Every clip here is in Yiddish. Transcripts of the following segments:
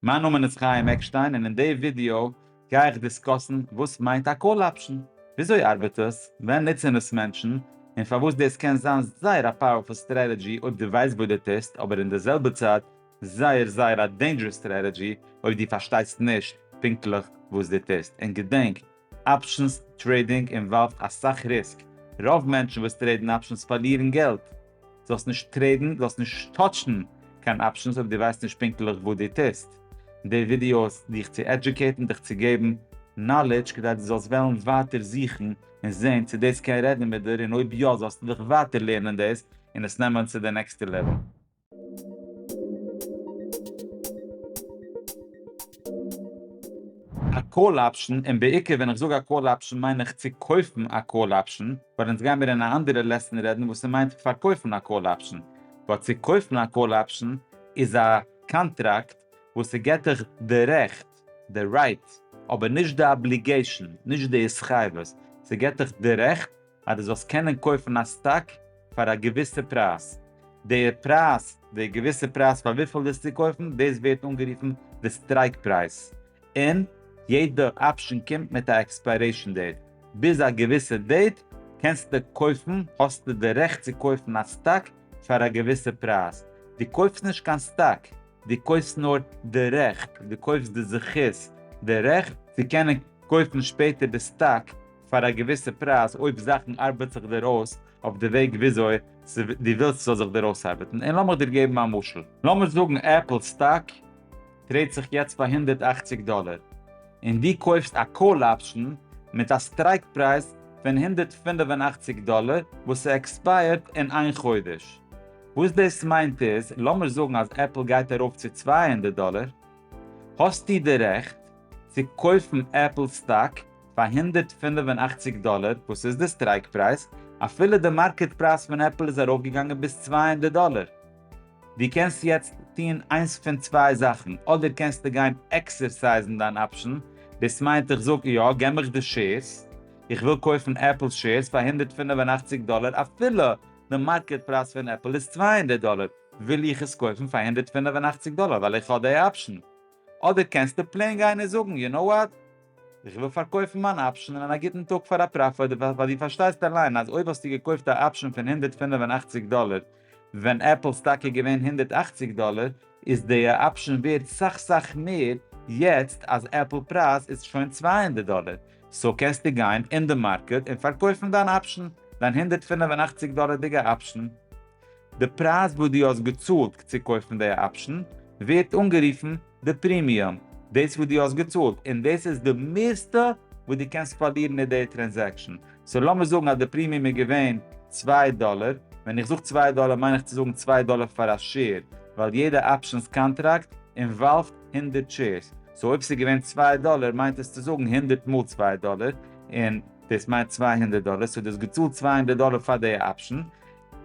מיין נאמען איז חיים עקשטיין און אין די ווידיאו גיי איך דיסקאסן וואס מיינט א קאל אפשן, וויאזוי ארבעט עס, ווען נוצן עס מענטשן, און פארוואס דאס קען זיין זייער א פאוערפול סטרעטעדזשי אויב דו ווייסט וואס דו טוסט אבער אין די זעלבע צייט זייער זייער א דעינדזשערעס סטרעטעדזשי אויב דו פארשטייסט נישט פונקטליך וואס דו טוסט און געדענק אפשענס טרעידינג אינוואלווד אסאך ריסק, רוב מענטשן וואס טרעידן אפשענס פארלירן געלט. זאלסט נישט טרעידן, זאלסט נישט טאטשן קיין אפשענס אויב דו ווייסט נישט פונקטליך וואס דו טוסט. די ווידיאו איז דיך צו עדזשוקעיטן, דיך צו געבן נאלעדזש כדי דו זאלסט וועלן ווייטער זוכן און זען צו דאס קען רעדן מיט דיר און אויב יא זאלסטו דיך ווייטער לערנען דאס און עס נעמען צו די נעקסטע לעוועל. א קאל אפשן, און בעיקר ווען איך זאג א קאל אפשן מיין איך צו קויפן א קאל אפשן, ווייל אונז גיימיר אין א אנדערע לעסן רעדן וואס ס'מיינט פארקויפן א קאל אפשן, ווייל צו קויפן א קאל אפשן איז א קאנטראקט וואס ס'געט דיך די רעכט, די רייט, אבער נישט די אבליגעישן, נישט די התחייבות, ס'געט דיך די רעכט, אז דו זאלסט קענען קויפן א סטאק פאר א געוויסע פרייז. די פרייז, די געוויסע פרייז פאר וויפיל ווילסטו קויפן, דאס ווערט אנגערופן די סטרייק פרייז. און יעדע אפשן קומט מיט א עקספיירעישן דעיט. ביז א געוויסע דעיט קענסטו קויפן, האסטו די רעכט צו קויפן א סטאק פאר א געוויסע פרייז. דו קויפסט נישט קיין סטאק, דו קויפסט נאר די רעכט, דו קויפסט די זכות, די רעכט, צו קענען קויפן שפעטער די סטאק פאר א געוויסע פרייז אויב זאכן ארבעט זיך דיר אויס אויף די וועג וויאזוי דו ווילסט ס'זאל זיך דיר אויסארבעטן און לאמיך דיר געבן א משל. לאמיר זאגן עפל סטאק טרעידט זיך יעצט פאר הונדערט אַכציק דאלער און דו קויפסט א קאל אפשן מיט א סטרייק פרייז פון הונדערט פֿינף און אַכציק דאלער וואס ס'עקספייערט אין איין חודש. וואס דאס מיינט איז לאמיר זאגן אז עפל גייט ארויף צו צוויי הונדערט דאלער האסטו די רעכט צו קויפן עפל סטאק פאר הונדערט פֿינף און אַכציק דאלער וואס איז די סטרייק פרייז, אפילו די מארקעט פרייז פון עפל איז ארויפגעגאנגען ביז צוויי הונדערט דאלער. דו קענסט יעצט טון איינס פון צוויי זאכן, אדער קענסטו גיין עקסערסייזן דיין אפשן, דאס מיינט איך זאג יא געב מיך די שעירס, איך וויל קויפן עפל שעירס פאר הונדערט פֿינף און אַכציק דאלער אפילו די מארקעט פרייז פון עפל איז צוויי הונדערט דאלער וויל איך עס קויפן פאר הונדערט פֿינף און אַכציק דאלער ווייל איך האב די אפשן, אדער קענסטו פלעין גיין און זאגן יו נאו וואט? איך וויל פארקויפן מיין אפשן אין א גוטן טאג פאר א פראפיט, ווייל דו פארשטייסט אליין אז אויב האסטו געקויפט א אפשן פון הונדערט פֿינף און אַכציק דאלער ווען עפל סטאק איז געווען הונדערט אַכציק דאלער, איז די אפשן ווערט סאך סאך מער יעצט אז עפל פרייז איז שוין צוויי הונדערט דאלער, סאו קענסטו גיין אין די מארקעט און פארקויפן דיין אפשן, דיין הונדערט פֿינף און אַכציק דאלערדיגע אפשן. די פרייז וואס דו האסט געצאלט צו קויפן די אפשן ווערט אנגערופן די פרימיום, דאס וואס דו האסט געצאלט, און דאס איז די מערסטע וואס דו קענסט פארלירן מיט די טרענזעקשאן. סאו לאמיר זאגן אז די פרימיום איז געווען צוויי דאלער, ווען איך זאג צוויי דאלער מיין איך צו זאגן צוויי דאלער פאר א שעיר, ווייל יעדע אפשנס קאנטראקט אינוואלווד הונדערט שעירס, סאו אויב ס'איז געווען צוויי דאלער מיינט עס צו זאגן הונדערט מאל צוויי דאלער, און דאס מיינט צוויי הונדערט דאלער, סאו דו האסט געצאלט צוויי הונדערט דאלער פאר די אפשן,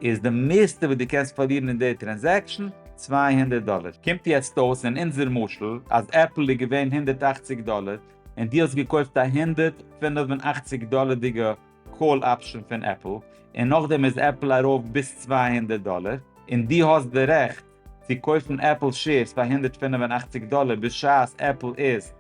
איז די מערסטע וואס דו קענסט פארלירן אין די טרענזעקשאן צוויי הונדערט דאלער. קומט יעצט אויס אין אונזער משל אז עפל איז געווען הונדערט אַכציק דאלער און דו האסט געקויפט א הונדערט פֿינף און אַכציק דאלערדיגע קאל אפשען פון עפל און נאכדעם איז עפל ארויף ביז צוויי הונדערט דאלער און דו האסט די רעכט צו קויפן עפל שעירס פאר הונדערט פֿינף און אַכציק דאלער בשעת עפל איז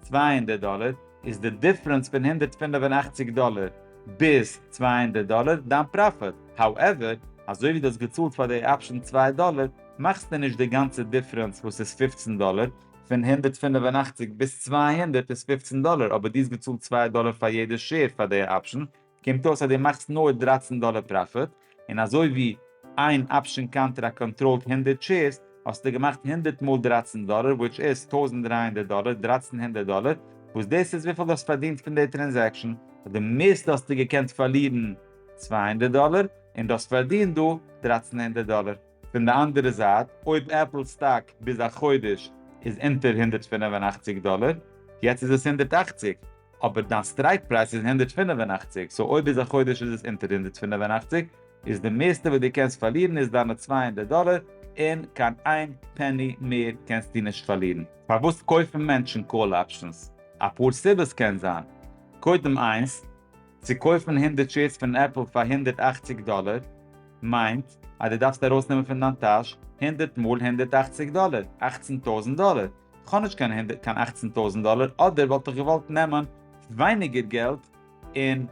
צוויי הונדערט דאלער איז די דיפרענס פון הונדערט פֿינף און אַכציק דאלער ביז צוויי הונדערט דאלער דיין פראפיט, האועווער, אזוי ווי דו האסט געצאלט פאר די אפשען צוויי דאלער, מאכסטו נישט די גאנצע דיפרענס וואס איז פֿופֿצן דאלער, פון הונדערט פֿינף און אַכציק ביז צוויי הונדערט איז פֿופֿצן דאלער אבער דו האסט געצאלט צוויי דאלער פאר יעדע שעיר פאר די אפשען, קומט אויס אז דו מאכסט נאר דרײַצן דאלער פראפיט, און אזוי ווי איין אפשען קאנטער א קאנטראלד הונדערט שעירס, האסטו געמאכט הונדערט מאל דרײַצן דאלער, וויטש איז טויזנט דרײַ הונדערט דאלער, דרײַצן הונדערט דאלער, וואס דאס איז וויפיל דו האסט פארדינט פון די טרענזעקשאן, אויף די מערסטע האסטו געקענט פארלירן צוויי הונדערט דאלער, און דו האסט פארדינט דא דרײַצן הונדערט דאלער. פון די אנדערע זייט, אויב עפל סטאק ביז א חודש איז אונטער הונדערט פֿינף און אַכציק דאלער, יעצט איז עס הונדערט אַכציק, אבער דיין סטרייק פרייז איז הונדערט פֿינף און אַכציק, סאו אויב ביז א חודש איז עס אונטער הונדערט פֿינף און אַכציק, איז די מערסטע וואס דו קענסט פארלירן איז דיינע צוויי הונדערט דאלער, און קיין איין פעני מער קענסטו נישט פארלירן. פארוואס קויפן מענטשן קאל אפשענס? אפאר סיבות קען זיין. קודם איינס, צו קויפן הונדערט שעירס פון עפל פאר הונדערט אַכציק דאלער מיינט אז דו דארפסט ארויסנעמען פון דיין טאש הונדערט מאל הונדערט אַכציק דאלער, אַכצן טויזנט דאלער. כ'האב נישט קיין הונדערט קיין אַכצן טויזנט דאלער אדער וואלט איך געוואלט נעמען ווייניגער געלט און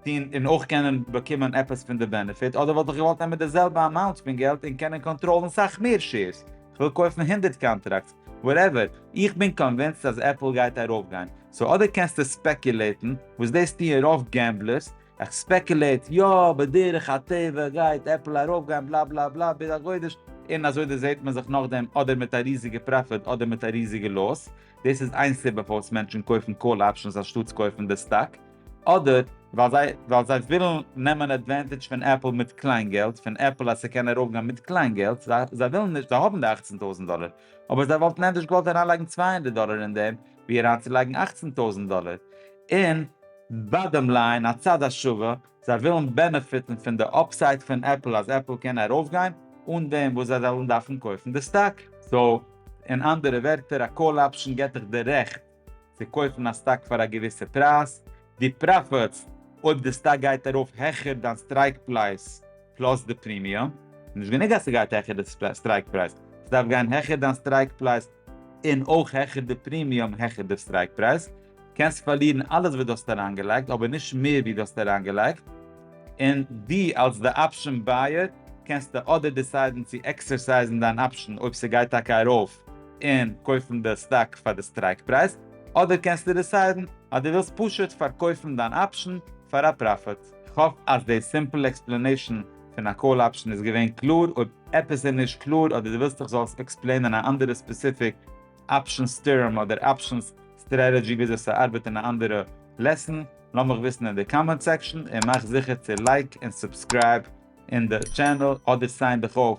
טון און אויך קענען באקומען עפעס פון די בענעפיט אדער וואלט איך געוואלט נעמען די זעלבע אמאונט פון געלט און קענען קאנטראלן סאך מער שעירס. כ'וויל קויפן הונדערט קאנטראקטס וואטעווער, איך בין קאנווינסט אז עפל גייט ארויפגיין, סאו אדער קענסטו ספעקולעיטן, וואס דאס טוען רוב געמבלערס, איך ספעקולעיט יא בדרך הטבע גייט עפל ארויפגיין בלא בלא בלא ביז א חודש, און אזוי דערזעהט מען זיך נאכדעם אדער מיט א ריזיגע פראפיט אדער מיט א ריזיגע לאס, דאס איז איין סיבה פארוואס מענטשן קויפן קאל אפשענס אנשטאטס קויפן די סטאק, אדער ווייל זיי ווייל זיי ווילן נעמען עדווענטעדזש פון עפל מיט קליין געלט, פון עפל אז ס'קען ארויפגיין מיט קליין געלט, זיי זיי ווילן נישט, זיי האבן די אַכצן טויזנט דאלער, אבער זיי וואלטן ענדערש געוואלט אריינלייגן צוויי הונדערט דאלער אין דעם, ווי אריינצולייגן אַכצן טויזנט דאלער אין. באדעם ליין, הצד השווה, זיי ווילן בענעפיטן פון די אפסייד פון עפל אז עפל קען ארויפגיין, אן דעם וואס זיי זאלן דארפן קויפן די סטאק. סאו, אין אנדערע ווערטער, א קאל אפשן געט דיך די רעכט צו קויפן א סטאק פאר א געוויסע פרייז, די פראפיטס אויב די סטאק גייט ארויף העכער דיין סטרייק פלייס פלאס די פרימיום, נישט גענוג אז ס'גייט העכער די סטרייק פרייז, ס'דארף גיין העכער דיין סטרייק פלייס און אויך העכער די פרימיום העכער די סטרייק פרייז, קענסט פארלירן אלעס וואס דו האסט אריינגעלייגט אבער נישט מער ווי דו האסט אריינגעלייגט, און דו אלס די אפשען בייער קענסטו אדער דיסיידן צו עקסערסייזן דיין אפשען אויב ס'גייט טאקע ארויף און קויפן די סטאק פאר די סטרייק פרייז, אדער קענסטו דיסיידן אז דו ווילסט פשוט פארקויפן דיין אפשן פאר א פראפיט. כ'האף אז די סימפל עקספלענעישן פון א קאל אפשן איז געווען קלאר, אויב עפעס איז נישט קלאר אדער דו ווילסט איך זאל עס עקספלעינען א אנדערע ספעסיפיק אפשנס טערם אדער אפשנס סטרעטעדזשי וויאזוי ס'ארבעט אין א אנדערע לעסן, לאמיך וויסן אין די קאמענט סעקשן, און מאך זיכער צו לייק און סובסקרייב אין די טשענעל אדער סיין דיך אויף.